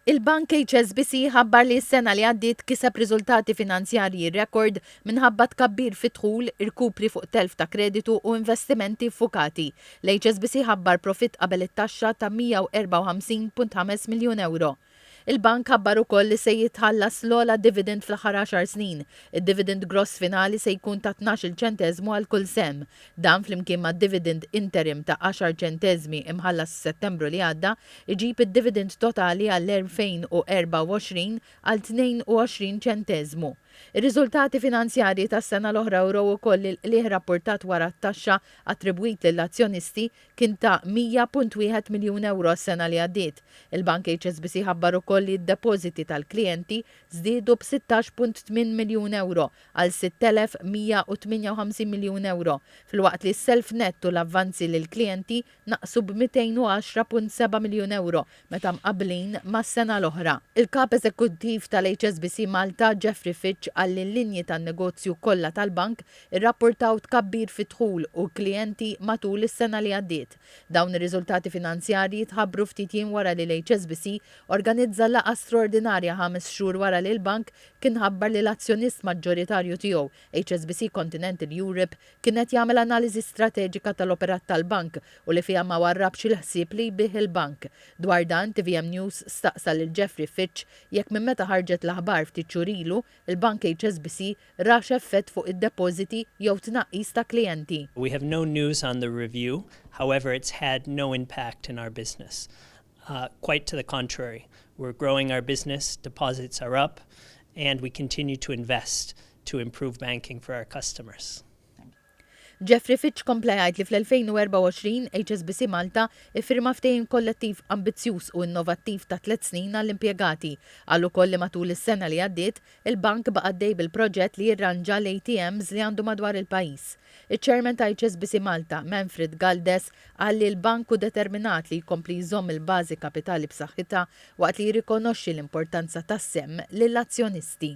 Il-bank HSBC ħabbar li s-sena li għaddiet kiseb riżultati finanzjarji rekord minħabba tkabbir fid-dħul, irkupri fuq telf ta' kreditu u investimenti ffukati. L-HSBC ħabbar profitt qabel it-taxxa ta' 154.5 miljun ewro. Il-bank ħabbar ukoll li se jitħallas l-ogħla dividend fl-aħħar għaxar snin. Id-dividend gross finali se jkun ta' tnax-il ċenteżmu għal kull sehem. Dan flimkien mad-dividend interim ta' għaxar ċenteżmi imħallas f'Settembru li għadda, iġib id-dividend totali għall-2024 għal 22 ċenteżmu. Ir-riżultati finanzjarji tas-sena l-oħra wrew ukoll li l-qligħ rappurtat wara t-taxxa attribwit lill-azzjonisti kien ta' 100.1 miljun ewro s-sena li għaddiet. Il-Bank HSBC ħabbar ukoll li d-depożiti tal-klijenti żdiedu b' 16.8 miljun ewro għal 6,158 miljun ewro, filwaqt li s-self nett u l-avvanzi lill-klijenti naqsu b' 210.7 miljun ewro meta mqabblin mas-sena l-oħra. Il-Kap Eżekuttiv tal-HSBC Malta, Geoffrey Fitch qal li l-linji tan-negozju kollha tal-bank irrappurtaw tkabbir fid-dħul u l-klijenti matul is-sena li għaddiet. Dawn ir-riżultati finanzjarji tħabbru ftit jiem wara li l-HSBC organizza laqgħa straordinarja ħames xhur wara li l-bank kien ħabbar li l-azzjonist maġġoritarju tiegħu, HSBC Continental Europe, kien qed jagħmel analiżi strateġika tal-operat tal-bank u li fiha ma warrabx il-ħsieb li jbigħ il-bank. Dwar dan, tvm News staqsa lil Geoffrey Fitch jekk minn meta ħarġet l-aħbar ftit xhur ilu, il-bank HSBC rax effett fuq id-depożiti jew tnaqqis ta' klijenti. We have no news on the review, however it's had no impact in our business. Quite to the contrary, we're growing our business, deposits are up, and we continue to invest to improve banking for our customers. Geoffrey Fitch kompla jgħid li fl-2024 HSBC Malta iffirma ftehim kollettiv ambizzjuż u innovattiv ta' tliet snin għall-impjegati. Qal ukoll li matul is-sena li għaddiet, Il-Bank baqa' għaddej bil-proġett li jirranġa l-ATMs li għandu madwar il-pajjiż. Iċ-Chairman ta' HSBC Malta, Manfred Galdes, qal li l-Bank hu determinat li jkompli jżomm il-bażi kapitali b'saħħitha waqt li jirrikonoxxi l-importanza tas-sehem lill-azzjonisti.